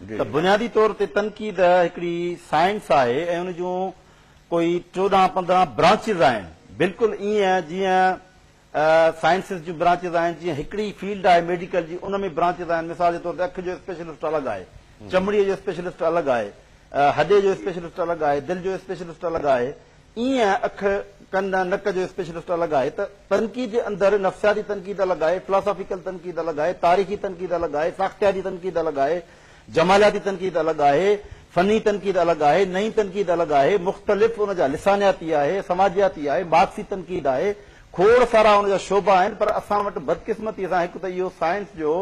ته بنيادي طور تي تنقيد هڪڙي سائنس آهي ۽ ان جون ڪوئي چوڏهن پندرهن برانچز آهن بلڪل ايئن جيئن سائنسز جون برانچز آهن جيئن هڪڙي فيلڊ آهي ميڊيڪل جي ان ۾ برانچز آهن مثال جي طور تي اک جو اسپيشلسٽ الڳ آهي چمڙي جو اسپيشلسٽ الڳ آهي هڏي جو اسپيشلسٽ الڳ آهي دل جو اسپيشلسٽ الڳ آهي ايئن اک، ڪن ۽ نڪ جو اسپيشلسٽ الڳ آهي ته تنقيد جي اندر نفسياتي تنقيد الڳ آهي، فلاسافيڪل تنقيد الڳ آهي، تاريخي تنقيد الڳ آهي، ساختياتي تنقيد الڳ آهي، جمالياتي تنقيد الڳ آهي، فني تنقيد الڳ آهي، نئين تنقيد الڳ آهي، مختلف ان جا لسانياتي آهي، سماجياتي آهي، مارڪسي تنقيد آهي، کوڙ سارا ان جا شعبا آهن پر اسان وٽ بدقسمتي سان هڪ ته اهو سائنس جو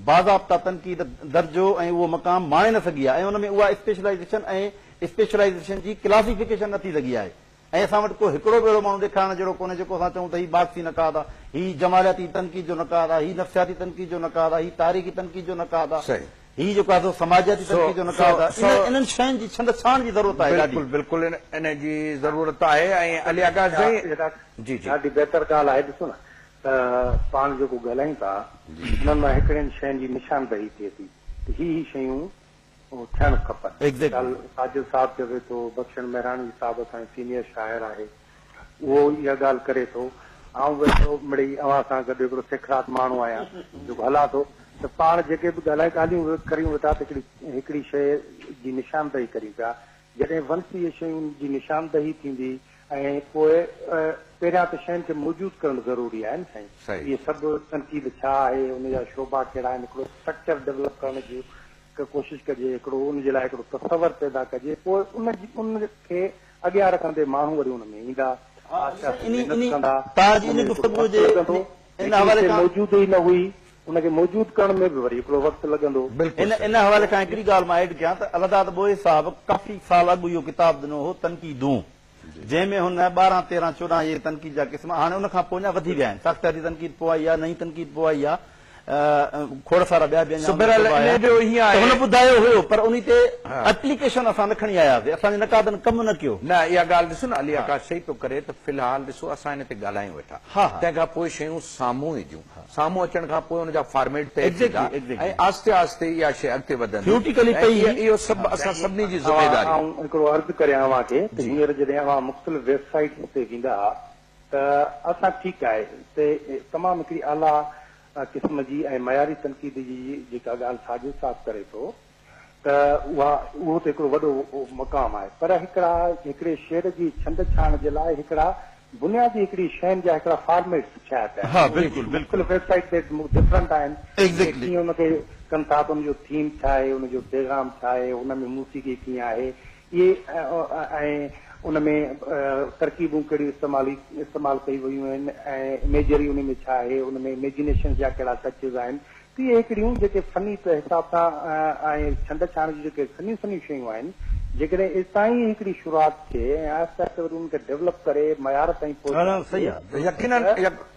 باضابطه تنقيد درجو ۽ اهو مقام ماڻي نه سگهي آهي ۽ ان ۾ اها اسپيشلائيزيشن ۽ اسپيشلائيزيشن جي ڪلاسيفڪيشن نه ٿي سگهي آهي ۽ اسان وٽ ڪو هڪڙو به اهڙو ماڻهو ڏيکارڻ جهڙو ڪونهي جيڪو اسان چئون ته هي مارڪسي نقاد آ، هي جمالياتي تنقيد جو نقاد آ، هي نفسياتي تنقيد جو نقاد آ، هي تاريخي تنقيد جو نقاد آ، هي جيڪو آهي سو سماجياتي تنقيد جو نقاد آ، انهن شين جي ڇنڊ ڇاڻ جي ضرورت آهي ڏاڍي. بلڪل بلڪل ان جي ضرورت آهي ۽ علي آغا سائين جي جي. ڏاڍي بهتر ڳالهه آهي ڏسو نه ته پاڻ جيڪو ڳالهايون ٿا انهن مان هڪڙين شين جي نشاندهي ٿئي ٿي ته هي هي شيون ٿيڻ کپن. مثال ساجد صاحب چوي ٿو، بخشڻ مهراڻي صاحب اسان جو سينيئر شاعر آهي، اهو اها ڳالهه ڪري ٿو، آئون ويٺو مڙئي اوهان سان گڏ هڪڙو سکرات ماڻهو آهيان، جيڪو هلان ٿو ته پاڻ جيڪي به ڳالهايون ڳالهيون ڪريون ويٺا ته هڪڙي هڪڙي شيء جي نشاندهي ڪريون پيا جڏهن ونسيء شين جي نشاندهي ٿيندي ۽ پوء پهريان ته شين کي موجود ڪرڻ ضروري آهي نه سائين اهي سڀ تنقيد ڇا آهي ان جا شعبا ڪهڙا آهن هڪڙو اسٽرڪچر ڊولپ ڪرڻ جي ڪوشش ڪجي هڪڙو ان جي لاء هڪڙو تصور پيدا ڪجي پوء ان جي ان کي اڳيان رکندي ماڻهو وري ان ۾ ايندا آهستي آهستي محنت ڪندا ان ۾ هڪڙو اثر لڳندو جيڪي شي موجود ئي نه هئي ان کي موجود ڪرڻ ۾ به وري هڪڙو وقت لڳندو. بلڪل صحيح. ان حوالي کان هڪڙي ڳالهه مان ايڊ ڪيان ته الهداد ٻوهي صاحب ڪافي سال اڳ اهو ڪتاب ڏنو هو تنقيدون جنهن ۾ هن ٻارهن تيرهن چوڏهن اهي تنقيد جا قسم هاڻي ان کان پوء اڃا وڌي ويا آهن ساختياتي تنقيد پوء آئي آهي نئين تنقيد پوء آئي آهي کوڙ سارا ٻيا به اڃا ان کان پوء آيا ته هن ٻڌايو هيو پر انهي تي اپليڪيشن اسان نه کڻي آياسي اسان جي نقادن ڪم نه ڪيو. نه اها ڳالهه ڏسو نه علي آڪاش صحيح پيو ڪري ته في الحال ڏسو اسان ان تي ڳالهايون ويٺا تنهن کان پوء شيون سامهون اينديون سامهون اچڻ کان پوء ان جا فارميٽ طئي ٿيندا ۽ آهستي آهستي اها شيء اڳتي وڌندي ۽ اهو سڀ اسان سڀني جي ذميواري آهي. آئون هڪڙو عرض ڪريان اوهان کي ته هينئر جڏهن اوهان مختلف ويب سائيٽس تي ويندا ته اسان ٺيڪ آهي ته تمام هڪڙي اعليٰ قسم جي ۽ معياري تنقيد جي جيڪا ڳالهه ساڳيو صاف ڪري ٿو ته اها اهو ته هڪڙو وڏو مقام آهي پر هڪڙا هڪڙي شعر جي ڇند ڇاڻ جي لاء هڪڙا بنيادي هڪڙي شين جا هڪڙا فارميٽس ٺهيا پيا آهن اهي مختلف ويب سائيٽ تي ڊفرنٽ آهن ڪي ڪيئن ان کي ڪن ٿا ته ان جو ٿيم ڇا آهي ان جو پيغام ڇا آهي ان ۾ موسيقي ڪيئن آهي اهي ۽ ان ۾ ترڪيبون ڪهڙيون استعمال استعمال ڪيون ويون آهن ۽ اميجري ان ۾ ڇا آهي ان ۾ اميجنيشنس جا ڪهڙا ٽچز آهن تي هيڪڙيون جيڪي فني پئي حساب سان ۽ ڇنڊ ڇاڻ جون جيڪي سنيون سنيون شيون آهن جيڪڏهن اتان ئي هيڪڙي شروعات ٿئي ۽ آهستي آهستي وري ان کي ڊولپ ڪري معيار تائين پهچائجي ته يقينن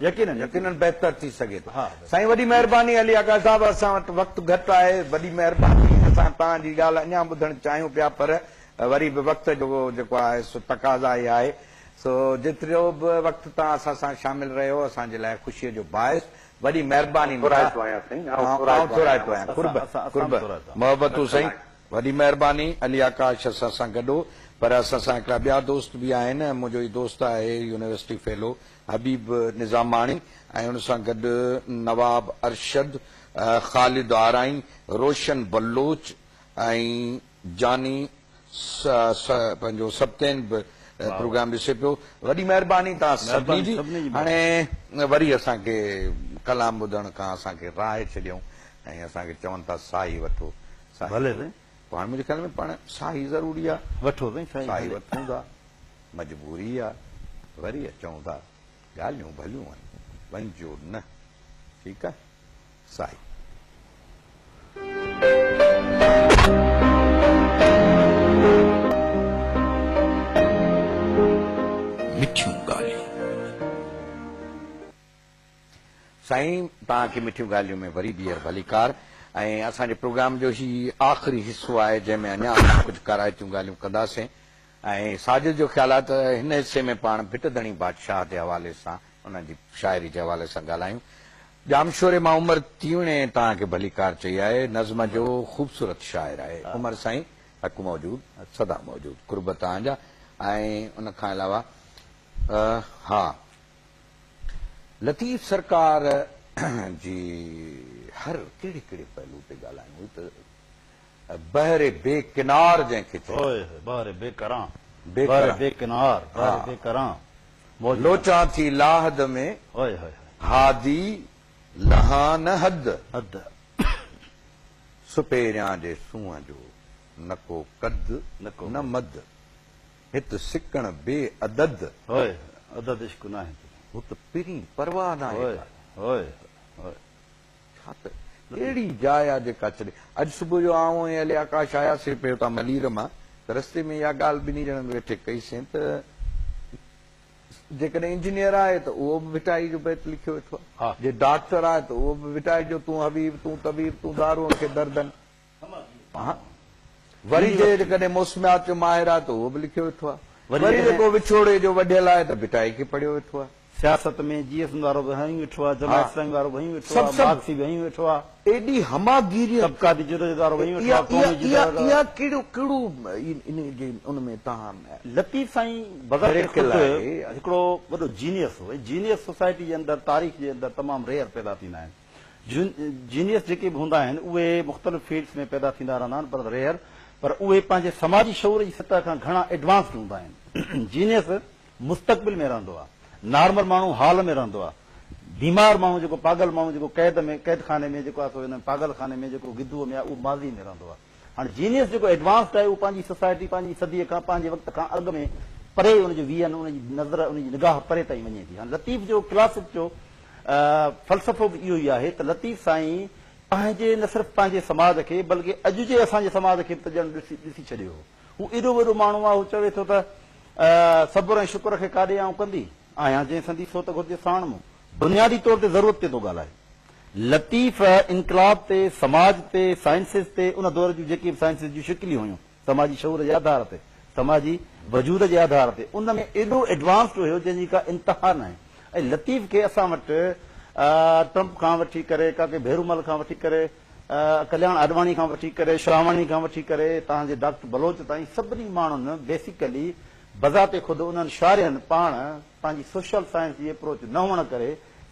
يقينن يقينن بهتر ٿي سگهي ٿو. سائين وڏي مهرباني علي آغا صاحب اسان وٽ وقت گهٽ آهي وڏي مهرباني اسان توهان جي ڳالهه اڃان ٻڌڻ چاهيون پيا پر وري به وقت جو جيڪو آهي سو تقاضا اها آهي سو جيترو به وقت توهان اسان سان شامل رهيو اسان جي لاء خوشي جو باعث وڏي مهرباني مٺا آئون ٿورائتو آهيان قرب قرب محبتون سائين وڏي مهرباني علي آڪاش اسان سان گڏ هو پر اسان سان هڪڙا ٻيا دوست به آهن منهنجو هي دوست آهي يونيورسٽي فيلو حبيب نظاماڻي ۽ ان سان گڏ نواب ارشد خالد آرائين روشن بلوچ ۽ جاني س س پنهنجو سبتين به پروگرام ڏسي پيو وڏي مهرباني توهان سڀني جي هاڻي وري اسان کي ڪلام ٻڌڻ کان اسان کي راهي ڇڏيائون ۽ اسان کي چون ٿا ساهي وٺو ساهي پوء هاڻي منهنجي خيال ۾ پاڻ ساهي ضروري آ وٺو سائين ساهي وٺون ٿا مجبوري آ وري اچون ٿا ڳالهيون ڀليون آهن وڃجو نه ٺيڪ آ. سائين. مٺيون ڳالهيون. سائين توهان کي مٺيون ڳالهيون ۾ وري ٻيهر ڀليڪار ۽ اسان جي پروگرام جو هي آخري حصو آهي جنهن ۾ اڃا اسان ڪجهه ڪارائتيون ڳالهيون ڪنداسين ۽ ساجد جو خيال آهي ته هن حصي ۾ پاڻ ڀٽ ڌڻي بادشاهه جي حوالي سان انهن جي شاعري جي حوالي سان ڳالهايون. ڄام شوري مان عمر تيوڻي توهان کي ڀليڪار چئي آهي. نظم جو خوبصورت شاعر آهي. عمر سائين حق موجود سدا موجود قرب توهان جا ۽ ان کان علاوه ها لطيف سرڪار جي هر ڪهڙي ڪهڙي پهلو تي ڳالهايون هي ته بحر بي ڪنار جنهن کي چئبو آهي. هوء بحر بي ڪران. بحر بي ڪنار. بحر بي ڪران. موج ڪران. لوچان ٿي لاحد ۾. هوء هوء. هادي لهان نه حد. حد. سپهريان جي سونهن جو. نه ڪو قد نه مد. هت سڪڻ بي عدد. هوء هوء. عدد عشق ناهي تون. هت پرين پرواهه ناهي ڪا. هوء هوء. ڇا ته اهڙي جاء آ جيڪا ڇڏي. اڄ صبح جو آئون ۽ علي آڪاش آياسين پئي اتان ملير مان ته رستي ۾ اها ڳالهه ٻنهي ڄڻن ويٺي ڪئي سين ته جيڪڏهن انجنيئر آهي ته اهو به ڀٽائي جو بيت لکيو ويٺو آهي. جي ڊاڪٽر آهي ته اهو به ڀٽائي جو تون حبيب، تون طبيب، تون دارون کي دردن. وري جيڪڏهن موسميات جو ماهر آهي ته اهو به لکيو ويٺو آهي. وري جيڪو وڇوڙي جو وڍيل آهي ته ڀٽائي کي پڙهيو ويٺو آهي. سياست ۾ جي ايس ايم وارو به هنيون ويٺو آهي، جماعت اسلامي وارو به هنيون ويٺو آهي، مارڪسي به هنيون ويٺو آهي. ايڏي هماگيريء. طبقاتي جدوجهد وارو به هنيون ويٺو آهي، قومي جدوجهد وارو. اها ڪهڙو ڪهڙو ان جي ان ۾ تهان. لطيف سائين بذات خود هڪڙو وڏو جينيئس هو ۽ جينيئس سوسائٽي جي اندر تاريخ جي اندر تمام ريئر پيدا ٿيندا آهن. جينيئس جيڪي به هوندا آهن اهي مختلف فيلڊس ۾ پيدا ٿيندا رهندا آهن پر ريئر پر اهي پنهنجي سماجي شعور جي سطح کان گهڻا ايڊوانسڊ هوندا آهن. جينيئس مستقبل ۾ رهندو آهي. نارمل ماڻهو حال ۾ رهندو آهي. بيمار ماڻهو جيڪو پاڳل ماڻهو جيڪو قيد ۾ قيد خاني ۾ جيڪو آهي سو ان پاڳل خاني ۾ جيڪو گدوء ۾ آهي اهو ماضي ۾ رهندو آهي. هاڻ جينيس جيڪو ايڊوانسڊ آهي اهو پنهنجي سوسائٽي، پنهنجي صديء کان، پنهنجي وقت کان اڳ ۾ پري ان جو ويهن، ان جي نظر، ان جي نگاهه پري تائين وڃي ٿي. هاڻ لطيف جو ڪلاسڪ جو فلسفو به اهو ئي آهي ته لطيف سائين پنهنجي نه صرف پنهنجي سماج کي بلڪ اڄ جي اسان جي سماج کي به ته ڄڻ ڏسي ڇڏيو هو. هو ايڏو وڏو ماڻهو آهي هو چوي ٿو ته صبر ۽ شڪر کي ڪا ڏي آئون ڪندي آهيان جنهن سندي سوت گهرجي ساڻ مون. بنيادي طور تي ضرورت تي ٿو ڳالهائي. لطيف انقلاب تي، سماج تي، سائنسز تي، ان دور جون جيڪي به سائنسز جون شڪليون هيون، سماجي شعور جي آڌار تي، سماجي وجود جي آڌار تي، ان ۾ ايڏو ايڊوانسڊ هيو جنهن جي ڪا انتها ناهي ۽ لطيف کي اسان وٽ ٽرمپ کان وٺي ڪري، ڪاڪي ڀيرومل کان وٺي ڪري، ڪلياڻ آڏواڻي کان وٺي ڪري، شراواڻي کان وٺي ڪري توهان جي ڊاڪٽر بلوچ تائين سڀني ماڻهن بيسيڪلي بذات خود انهن شارحن پاڻ پنهنجي سوشل سائنس جي اپروچ نه هئڻ ڪري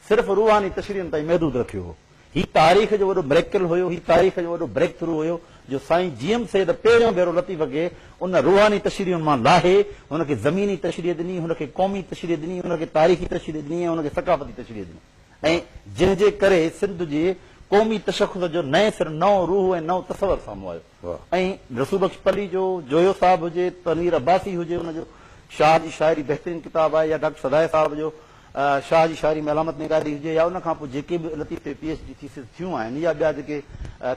صرف روحاني تشريحن تائين محدود رکيو هو. هي تاريخ جو وڏو مريڪل هيو، هي تاريخ جو وڏو بريڪ ٿرو هيو جو سائين جي ايم سيد پهريون ڀيرو لطيف کي ان روحاني تشريحن مان لاهي هن کي زميني تشريح ڏني، هن کي قومي تشريح ڏني، هن کي تاريخي تشريح ڏني ۽ هن کي ثقافتي تشريح ڏني ۽ جنهن جي ڪري سنڌ جي قومي تشخص جو نئين سر نئون روح ۽ نئون تصور سامهون آيو. ۽ رسول بخش پلي جو جويو صاحب هجي ته مير عباسي هجي ان جو شاهه جي شاعري بهترين ڪتاب آهي يا ڊاڪٽر سدائي صاحب جو شاهه جي شاعري ۾ علامت نگاري هجي يا ان کان پوء جيڪي به لطيف تي پي ايڇ ڊي ٿيسز ٿيون آهن يا ٻيا جيڪي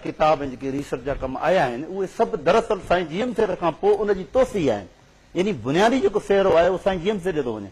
ڪتاب ۽ جيڪي ريسرچ جا ڪم آيا آهن اهي سڀ دراصل سائين جي ايم سيد کان پوء ان جي توسيع آهن يعني بنيادي جيڪو سهرو آهي اهو سائين جي ايم سيد جو ٿو وڃي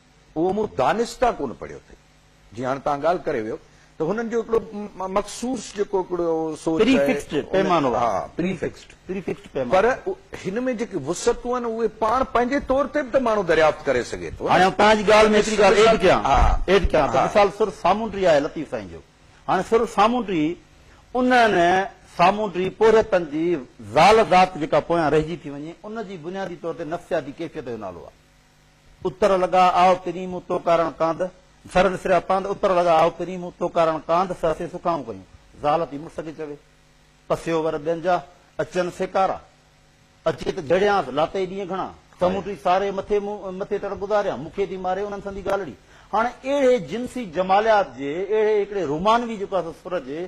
اهو مون دانسته ڪونه پڙهيو اٿئي. جيئن هاڻي توهان ڳالهه ڪري ويو ته هنن جو هڪڙو مخصوص جيڪو هڪڙو سوچ پري آهي. فڪسڊ پيمانو آهي. ها پري فڪسڊ. پري فڪسڊ پيمانو. پر هن ۾ جيڪي وسعتون آهن اهي پاڻ پنهنجي طور تي به ته ماڻهو دريافت ڪري سگهي ٿو نه. هاڻي آئون توهان جي ڳالهه ۾ هڪڙي ڳالهه ايڊ ڪيان. ها. ايڊ ڪيان ته ها. مثال سر سامونڊي آهي لطيف سائين جو. هاڻي سر سامونڊي انهن سامونڊي پورهيتن جي زال ذات جيڪا پويان رهجي ٿي وڃي ان جي بنيادي طور تي نفسياتي ڪيفيت جو نالو آهي. اتر لڳا آء پرين مون تو ڪارڻ ڪانڌ، سر وسريا پانڌ، اتر لڳا آء پرين مون تو ڪارڻ ڪانڌ، سهسي سکائون ڪيون، زال ٿي مڙس کي چوي، پسيو ور ٻين جا، اچن سيڪارا، اچي ته جهڙيانس، لاتئي ڏينهن گهڻا، سموٽي ساري مٿي مون مٿي تڙ گذاريان، مون کي ٿي ماري انهن سندي ڳالهڙي. هاڻي اهڙي جنسي جماليات جي اهڙي هڪڙي رومانوي جيڪو آهي سو سر جي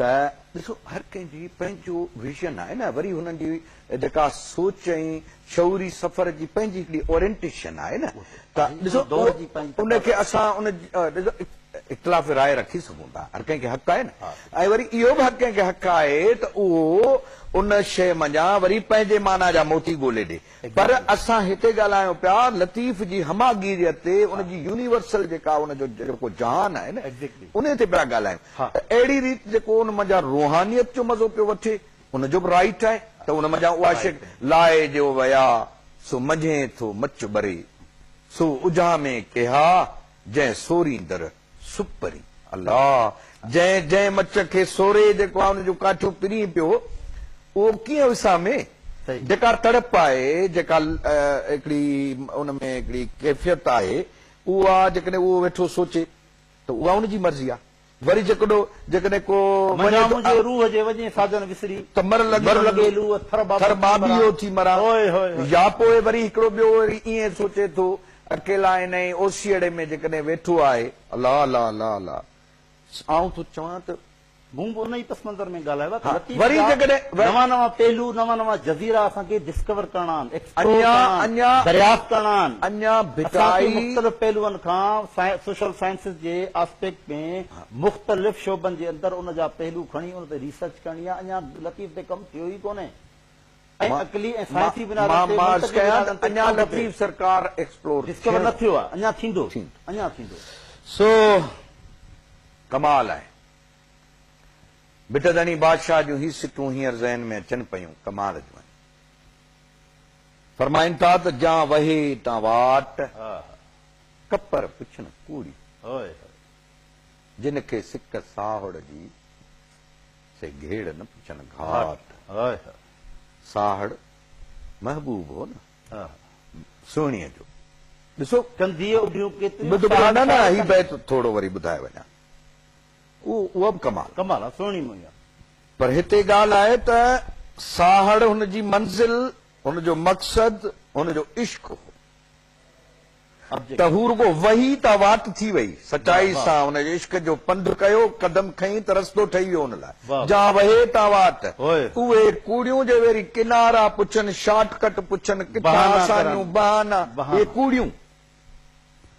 ته ڏسو هر ڪنهن جي پنهنجو ويزن آهي نه وري هنن جي جيڪا سوچ ۽ شعوري سفر جي پنهنجي هڪڙي اورينٽيشن آهي نه ته ڏسو ان کي اسان ان ڏسو اختلاف راء رکي سگهون ٿا هر ڪنهن کي حق آهي نه ۽ وري اهو به هر ڪنهن کي حق آهي ته اهو ان شيء منجهان وري پنهنجي معنيٰ جا موتي ڳولي ڏي پر اسان هتي ڳالهايون پيا لطيف جي هماگيريت تي، ان جي يونيورسل جيڪا ان جو جيڪو جهان آهي نه انهي تي پيا ڳالهايون ته اهڙي ريت جيڪو ان منجهان روحانيت جو مزو پيو وٺي ان جو به رائيٽ آهي ته ان منجهان اها شيء لاء جو ويا سو منجهين ٿو مچ ٻري سو اجهامي ڪيها جنهن سورين در سپرين الله جنهن جنهن مچ کي سوري جيڪو آهي ان جون ڪاٺيون پرين پيو هو اهو ڪيئن وسامي جيڪا تڙپ آهي جيڪا هڪڙي ان ۾ هڪڙي ڪيفيت آهي اها جيڪڏهن اهو ويٺو سوچي ته اها ان جي مرضي آهي وري جيڪڏو جيڪڏهن ڪو منجهان منهنجي روح جي وڄين ساجن وسري ته مر لڳي وڃ لوء ٿر ڀاڀيو ٿي مران يا پوء وري هڪڙو ٻيو وري ائين سوچي ٿو اڪيلا انهيء اوسيئڙي ۾ جيڪڏهن ويٺو آهي. الله الله الله الله آئون ٿو چوان ته. مون به انهيء پس منظر ۾ ڳالهايو آهي ته لطيف جا نوان نوان پهلو، نوان نوان جزيرا اسان کي ڊسڪور ڪرڻا آهن، ايڪسپلور ڪرڻا آهن، دريافت ڪرڻا آهن. اسان کي مختلف پهلوئن کان سوشل سائنسز جي آسپيڪٽ ۾ مختلف شعبن جي اندر ان جا پهلو کڻي ان تي ريسرچ ڪرڻي آهي. اڃا لطيف تي ڪم ٿيو ئي ڪونهي. ۽ عقلي ۽ سائنسي بنيادن تي منطقي بنيادن تي ڪم ٿئي. اڃا لطيف سرڪار ايڪسپلور ڊسڪور نه ٿيو آهي اڃا ٿيندو اڃا ٿيندو. سو ڪمال آهي. بٽ ڌڻي بادشاهه جون هي سٽون هينئر ذهن ۾ اچن پيون ڪمال جون آهن. فرمائن ٿا ته جان وهي تان واٽ ڪپر پڇن ڪوڙي جن کي سڪ ساهوڙ جي سي گهيڙ نه پڇن گهاٽ. ساهڙ محبوب هو نه سهڻيء جو. ڏسو ٻڌ ٻڌ نه هي بيت ٿورو وري ٻڌائي وڃان اهو به ڪمال آهي. پر هتي ڳالهه آهي ته ساهڙ هن جي منزل هن جو مقصد هن جو عشق هو. ته هو رڳو وهي تان واٽ ٿي وئي. سچائي سان ان جي عشق جو پنڌ ڪيو، قدم کنئي ته رستو ٺهي ويو ان لاء. جا وهي تان واٽ. اهي ڪوڙيون جي ويري ڪنارا پڇن، شارٽ ڪٽ پڇن، ڪٿا آسانيون، بهانا. اهي ڪوڙيون.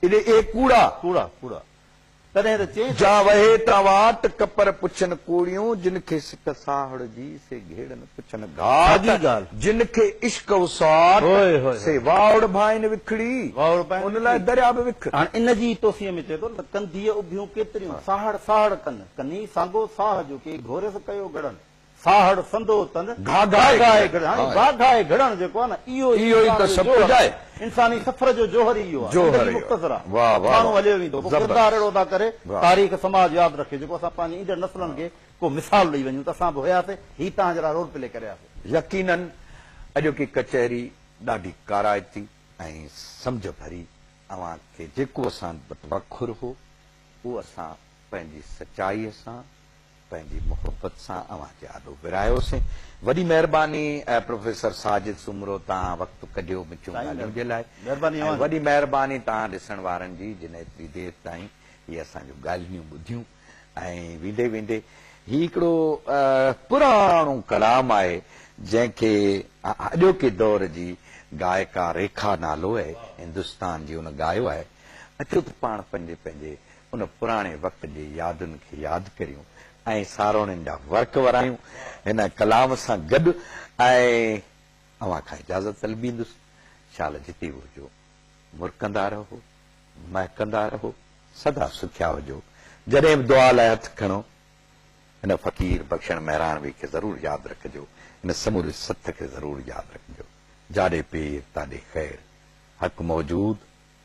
اهي ڪوڙا. تڏهن ته چين ٿا. جا وهي تان واٽ ڪپر پڇن ڪوڙيون جن کي سڪ ساهڙ جي سي گهيڙن پڇن گهاٽ جن کي عشق وساٽ سي واهڙ ڀائين وکڙي ان لاء دريا به وک. هاڻ ان جي ئي توسيع ۾ چئي ٿو ته ڪنڌيء اڀيون ڪيتريون ساهڙ ساهڙ ڪن ڪني سانگو ساهه جو ڪي گهوريس ڪيو گڙن. ساهڙ سندو تن گهاگهائي گهڙڻ هاڻي گهاگهائي گهڙڻ جيڪو آهي نه اهو ئي انسان جو جوهر آهي انساني سفر جو جوهر ئي اهو آهي زندگي مختصر آهي ماڻهو هليو ويندو پوء ڪردار اهڙو ادا ڪري تاريخ سماج ياد رکي جيڪو اسان پنهنجي ايندڙ نسلن کي ڪو مثال ڏئي وڃون ته اسان به هياسي هي توهان جهڙا رول پلي ڪري آياسي. يقيناً اڄوڪي ڪچهري ڏاڍي ڪارائتي ۽ سمجهه ڀري اوهان کي جيڪو اسان وٽ وکر هو اهو اسان پنهنجي سچائي سان پنهنجي محبت سان اوهان جي آڏو ورايوسين. وڏي مهرباني پروفيسر ساجد سومرو تان وقت ڪڍيو مٺيون ڳالهيون جي لاء ۽ وڏي مهرباني تان ڏسڻ وارن جي جن ايتري دير تائين هي اسان جون ڳالهنيون ٻڌيون ۽ ويندي ويندي هي هڪڙو پراڻو ڪلام آهي جنهن کي اڄوڪي دور جي گائڪا ريکا نالو هندستان جي ان ڳايو آهي اچو ته پاڻ پنهنجي پنهنجي ان پراڻي وقت جي يادن کي ياد ڪريون ۽ ساروڻين جا ورق ورايون هن ڪلام سان گڏ ۽ اوهان کان اجازت طلبيندس شال جتي به هجو مرڪندا رهو مهڪندا رهو سدا سکيا هجو جڏهن به دعا لاء هٿ کڻو هن فقير بخشڻ مهراڻوي کي ضرور ياد رکجو هن سموري سٿ کي ضرور ياد رکجو جاڏي پير تاڏي خير حق موجود